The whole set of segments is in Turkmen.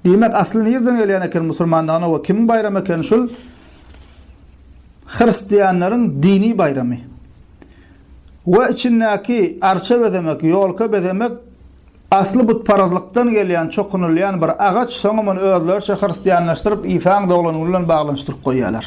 Diýmek, asly nirden gelýän eken musulmanlygyna we kimiň baýramy eken şul? Hristianlaryň dini baýramy. We içindäki arça bezemek, ýolka bezemek asly butparazlykdan gelýän, çokunylýan bir agaç, soňam ony özleriçe hristianlaşdyryp, Isaň doglan güni bilen baglanyşdyryp goýýarlar.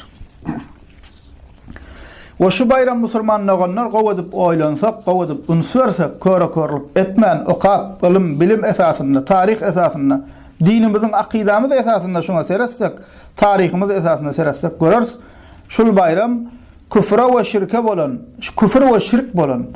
We şu baýram musurman doganlar gowy edip oýlansak, gowy edip üns bersek, köre-körlük etmän, okap, ylym, bilim esasynda, taryh esasynda, dinimiziň, akydamyz esasynda şuňa seretsek, taryhymyz esasynda seretsek göreris, şul baýram küfre we şirke bolan, küfür we şirk bolan,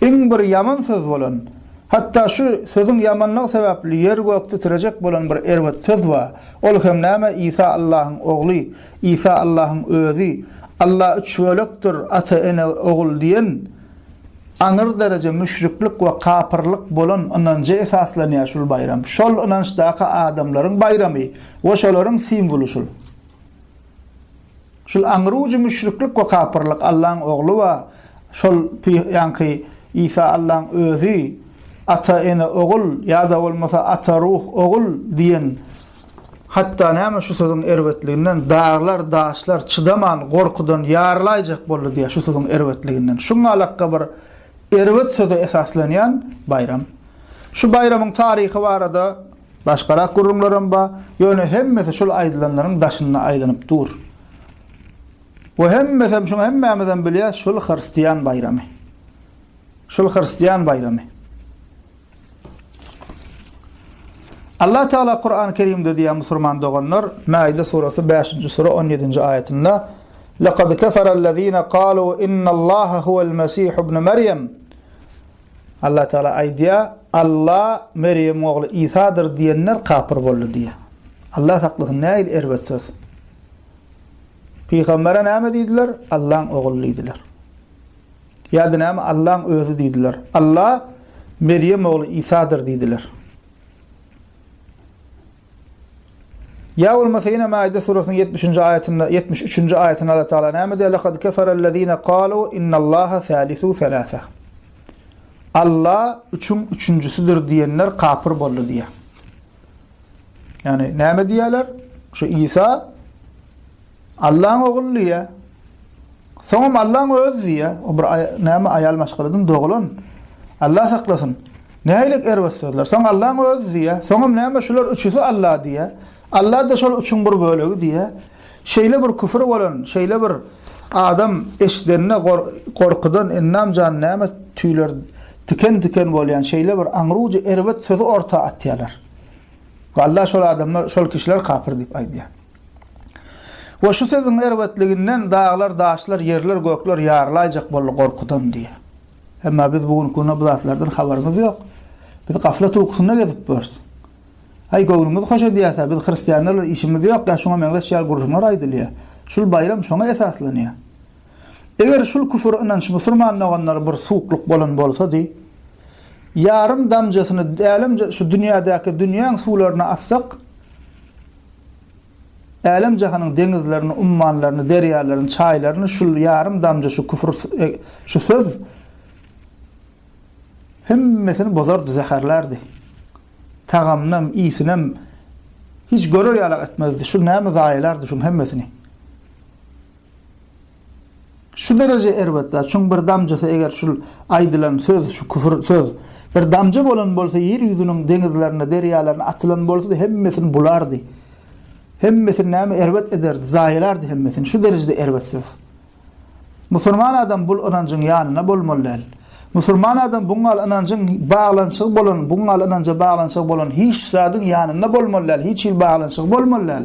iň bir ýaman söz bolan, hatda şu sözüň ýamanlygy sebäpli ýer-gök titrejek bolan bir erbet söz bar, ol hem näme, Isa Allahyň ogly, Isa Allahyň Özi, Allah üç bölekdir, Ata, Ene, Ogul diýen aňyr dereje müşriklik we kapyrlyk bolan ynanja esaslanýar şul baýram. Şol ynançdaky adamlaryň baýramy we şolaryň simwoly şul. Şul aňrujy müşriklik we kapyrlyk Allaň Ogly we şol ýaňky Isa Allaň Özi, Ata, Ene, Ogul ýa-da bolmasa Ata, Ruh, Ogul diýen Hatda näme şu sözüň erbetliginden daglar, daşlar çydaman, gorkudan ýarylaýjak boldy diýýär şu sözüň erbetliginden. Şuň alakga bir erbet söze esaslanýan baýram. Şu baýramyň taryhy barada başgarak gürrüňlerem bar, ýöne hemmesi şul aýdylanlaryň daşynda aýlanyp dur. Bu hemmesem şuň hemmämizem bilýäs şul hyrstiýan baýramy. Şul hyrstiýan baýramy. Allah Teala Kur'an-ı Kerim'de diýýär musulman doganlar, Maide suresi 5-nji sure 17-nji aýatynda, "Laqad kafara allazina qalu innallaha huwal mesih ibn Meryem" Allah Teala aýdýar, Allah Meryem ogly İsa'dyr diýenler kafir boldy diýýär. Allah saklasyn, nähili erbet söz. Pygambere näme diýdiler? Allah'yň ogly diýdiler. Ýa-da näme Allaň özi diýdiler. Alla Merýem ogly Isadyr diýdiler. Ýa bolmasa ýene Maide surasynyň ýetmiş nji aýatynda, ýetmiş üçünji aýatynda Alla Taala näme diýýär? Lekad keferellezine kalu innallaha salisu selasa. Alla üçüň üçünjisidir diýenler kapyr boldy diýýär. Ýagny näme diýýärler? Şu Isa Allaň ogly diýýär. Soňam Allaň özi diýýär. O bir näme aýal maşgaladan dogulan. Allah saklasyn. Nähili erbet sözler. Soň Allaň özi diýýär. Soňam näme şular üçüsi Allah diýýär. Allah-da şol üçüň bir bölegi diýýär. Şeýle bir küfür bolan, şeýle bir adam eşidende gorkudan ennam jany näme tüýler tiken-tiken bolýan şeýle bir aňrujy erbet sözi orta atýarlar. Allah şol adamlar, şol kişiler kapyr diýip aýdýar. We şu sözüň erbetliginden daglar, daşlar, ýerler, gökler ýarylaýjak boldy gorkudan diýýär. Emma biz bu günki günde bu zatlardan habarymyz ýok. Biz gaflat ukusynda gezip ýörüs. Aý, göwnümiz hoş edýärse, biz hristianlar bilen işimiz ýok ýa şuňa meňzeş ýaly gürrüňler aýdylýar. Şul baýram şoňa esaslanýar. Eger şul küfür ynanç musurman doganlar bir suwuklyk bolan bolsady, ýarym damjasyny älemje şu dünýädäki dünýäň suwlaryna atsak, Älem-jahanyň deňizlerini, ummanlaryny, derýalaryny, çaýlaryny şul ýarym damja şu küfür, şu söz hemmesini bozardy, zäherlärdi. Tagamynam, ysynam hiç görer ýalak etmezdi. Şu näme zaýalardy şuň hemmesini. Şu dereje erbet zat, şuň bir damjasy eger şul aýdylan söz, şu küfür söz bir damja bolan bolsa ýer ýüzüniň deňizlerine, derýalaryna atylan bolsady hemmesini bulardy. Hemmesini näme erbet ederdi, zaýalardy hemmesini. Şu derejede erbet söz. Musulman adam bul ynanjyň ýanyna bolmaly däl. Musulman adam buň gal ynanjyň baglanyşygy bolan, buň gal ynanja baglanyşygy bolan hiç zadyň ýanynda bolmaly däl, hiç hil baglanyşygy bolmaly däl.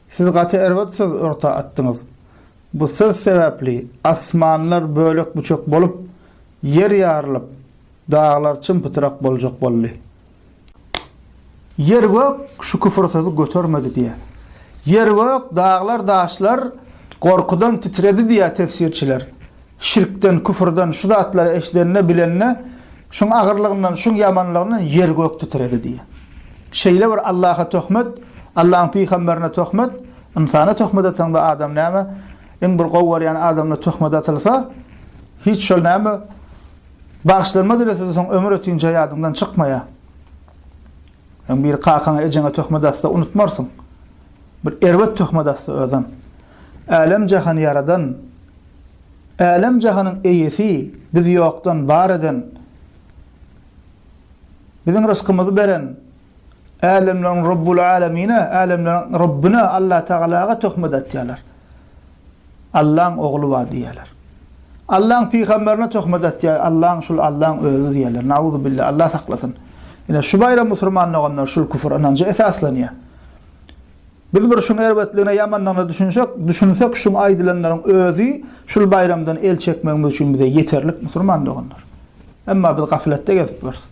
Siz gaty erbet söz orta atdyňyz. Bu söz sebäpli asmanlar bölek-büçek bolup, ýer ýarylyp, daglar çym-pytrak boljak boldy. Ýer-gök şu küfür sözi götermedi diýýä. Ýer-gök, daglar-daşlar gorkudan titredi diýýä tefsirçiler. Şirkden, küfürden şu zatlary eşidende, bilende, şuň agyrlygyndan, şuň ýamanlygyndan ýer-gök titredi diýýär. Şeýle bir Allaha töhmet, Allahyň pygamberine töhmet, ynsana töhmet atanda adam näme, iň bir gowy görýän adamyna töhmet atylsa, hiç şol näme, bagyşlanma dilese-de soň ömür ötince ýadyňdan çykmaýar. Sen bir kakaňa, ejeňe töhmet atsa unutmarsyň. Bir erbet töhmet atsa özem. Älem-jahany ýaradan, Älem-jahanyň Eýesi, bizi ýokdan bar eden, biziň rysgymyzy beren Älemleriň Rabbul Älemine, Älemleriň Rabbine, Allatagalaga töhmet atýarlar. Allaň ogly bar diýýärler. Allaň pygamberine töhmet atýar, Allaň şul Allaň özi diýýärler. Nauzubillah, Allah saklasyn. Ine şu baýram musurman doganlar şul küfür ynanja esaslanýar. Biz bir şuň erbetligine ýamanlygyna düşünsek, düşünsek şuň aýdylanlaryň özi şul baýramdan el çekmegimiz üçin bize ýeterlik musulman doganlar. Emma biz gafletde gezip ýörüs.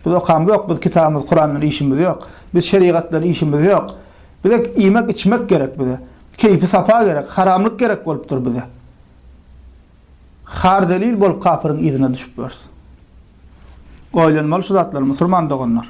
Biz okamzok, biz kitabymyz Kurandan işimiz ýok. Biz şerigatdan işimiz ýok. Bize iýmek içmek gerek bize. Keýpi sapa gerek, haramlyk gerek bolupdyr bize. Har zelil bolup kapyryň yzyna düşüp ýörüs. Oýlanmaly şu zatlar musulman doganlar.